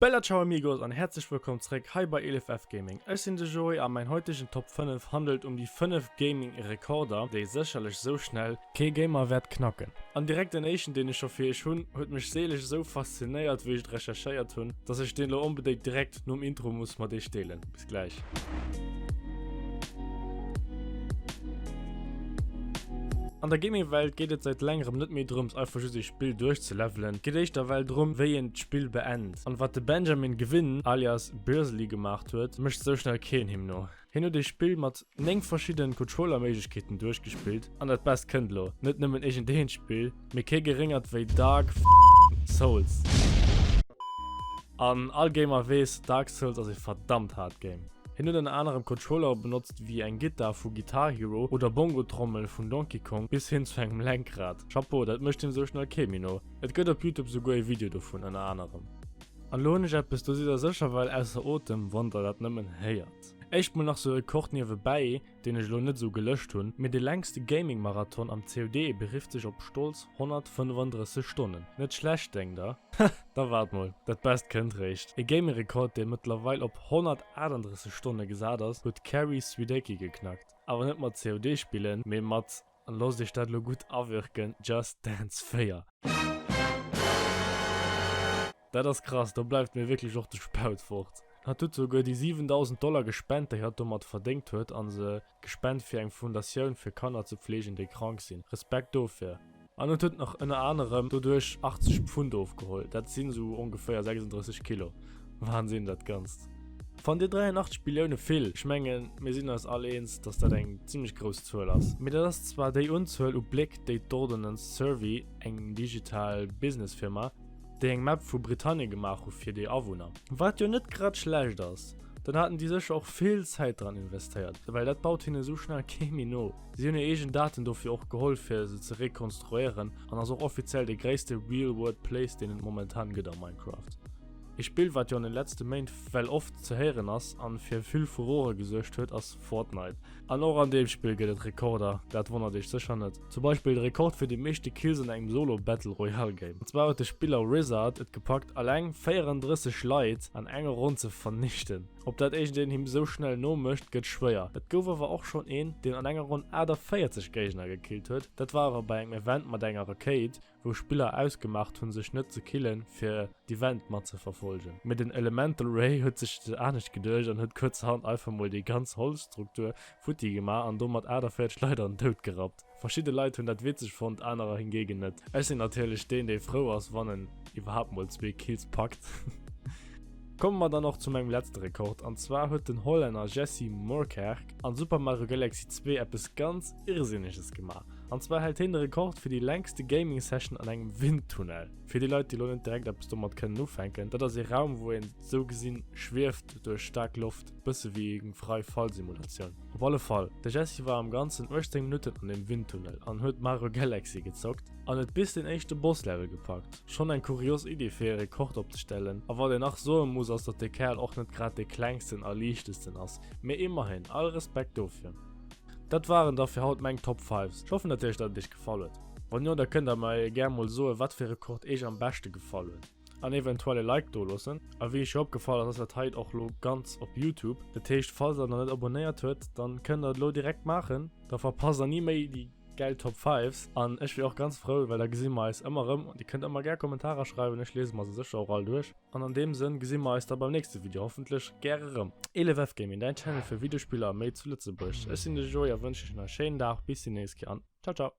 Bella ciao amigos an herzlech wëllkomm zréck hei bei ElefF Gaming. Ech sinn de Joé a mäin heutegen Top 5 handelt um déi 5 Gaming Rekorder déi sécherlech sou schnell kee Gamer wäert knacken. An direkt den éischten deen ech scho fir iech hunn huet mech seeleg esou faszinéiert wéi ech et recherchéiert hunn, dass ech deen elo onbedéngt direkt nom Intro muss mat iech deelen. gläich. An der Gaming Welt geet et seit längerem net méi drëms einfach just ee Spill duerch ze levelen, et geet éischter well drëm wéi een d'Spill beend. An wat de Benjamin Gewinn alias Birsley gemaacht huet, mécht sou schnell keen him no. Hien huet ee Spill mat 9 verschidden Controller-Méiglechkeeten duerchgespillt an dat Best kënnt lo, net nëmmen iergend eent Spill, mee kee geréngert wéi Dark Souls. An all Gamer weess, Dark Souls ass ee verdammt haart Game. Hien huet ënner anerem Controllere benotzt wéi eng Gittar vu Guitar Hero oder Bongo-Trommel vun Donkey Kong bis hin zu engem Lenkrad. Chapeau, dat mécht him esou schnell kee méi no. Et gëtt op Youtube souguer ee Video dovun ënner anerem. An lo hunn ech eppes, do sidd der sécher well ausser Otem, wann der dat nëmmen héiert. Éischt mol nach sou e Kord niewebäi, deen ech elo net sou gelëscht hunn, mee de längste Gaming Marathon am COD berifft sech op stolz 135 Stonnen. Net schlecht, denkt der? Hah, da waart mol, dat Best kënnt réischt. E Gaming Rekord, dee mëttlerweil op 138 Stonne gesat ass, huet d'Carrie Swidecky geknackt. Awer net mat COD spillen, mee mat. An losst iech dat lo gudd awirken, Just Dance 4. Dat ass krass, do bleiwt mir wierklech och de Spaut fort. Hat huet souguer déi 7.000 Dollar gespent déi hat domat verdéngt huet an se gespent fir eng Fundatioun fir Kanner ze pflegen déi krank sinn. Respekt dofir. An et huet nach ënner anerem doduerch 80 Pfund ofgeholl, dat sinn sou ongeféier 36 Kilo. Wahnsinn dat ganzt. Fannt dir 83 Billioune vill? Ech mengen mir sinn eis all eens dass dat eng zimmlech grouss Zuel ass. Mee dat ass zwar déi Unzuel u Bléck déi d'Ordnance Survey, eng digital Business Firma, déi eng Map vu Britannien gemaach hu fir déi Awunner. Wat jo net grad schlecht ass. Dann haten déi sécher och vill Zäit dran investéiert, well dat baut hinne sou schnell kee méi no. Si hunn hir eegen Daten dofir och geholl fir se ze rekonstruéieren an ass och offiziell de gréisste Real World Place deen et momentan gëtt a Minecraft. Ee Spill wat jo an den letzte Méint well oft ze héieren ass an fir vill Furore gesuergt huet ass Fortnite. An och an deem Spill gëtt et Rekorder, dat wonnert iech sécher net. Zum Beispill de Rekord fir déi meeschte Kills an engem Solo Battle Royale Game. An zwar huet de Spiller Rizzard et gepackt alleng 34 Leit an enger Ronn ze vernichten. Op dat iergendeen him sou schnell no mécht gëtt schwéier. Et gouf awer och schonn een deen an enger Ronn 48 Géigner gekillt huet, dat war awer bei engem Event mat enger Rakéit. wou Spiller ausgemaacht hunn sech net ze killen fir d'Event mat ze verfolgen, mee den Elemental Ray huet sech et anescht geduecht an huet kuerzerhand einfach mol déi ganz Holzstruktur futti gemaach an domat 48 Leit an den Doud gerappt. Verschidde Leit hunn dat witzeg fonnt, anerer hingegen net. Ech sinn natierlech deen dee frou ass wann en iwwerhaapt mol zwee Kills packt. Komme mer dann och zu mengem letzte Rekord, an zwar huet den Hollänner Jessy Moorkerk an Super Mario Galaxy 2 eppes ganz Irrsinneges gemaach. An zwar hält heen de Rekord fir déi längste Gaming Session an engem Windtunnel. Fir déi Leit déi lo net direkt eppes domat kënnen ufänken, dat ass ee Raum wou een sou gesinn schwieft duerch staark Loft, bësse wéi eng Frei Fall Simulatioun. Op alle Fall, de Jessy war am ganzen 18 Minutten an deem Windtunnel an huet Mario Galaxy gezockt an et bis den éischte Boss Level gepackt. Schonn eng kurios Iddi fir ee Rekord opzestellen, a wat een nach soe muss ass dat de Kerl och net grad dee klengsten a liichtesten ass, mee immerhin, all Respekt dofir. Dat waren da fir haut meng Top 5s. Ech hoffen natierlech datt et iech gefall huet. Wann jo da kënnt der mer gär mol soen wat fir Rekord iech am beschte gefall huet an eventuell e Like doloossen. A wéi scho opgefall ass ass dat hei och lo ganz op Youtube. Dat heescht falls der nach net abonéiert huet dann kënnt der et lo direkt maachen. Da verpasst der ni méi déi gäil Top 5s an ech wier och ganz frou well da gesi mer eis ëmmer erëm. Dir kënnt ëmmer gär Kommentarer schreiwen, ech liese mer se sécher och all duerch. An an deem Sënn gesi mer eis da beim nächste Video hoffentlech gäre rëm. Elefweb Gaming, däin Channel fir Videospiller a méi zu Lëtzebuerg. Ech sinn de Joe a wënschen iech nach e schéinen Dag. Bis déi nächst Kéier an ciao ciao!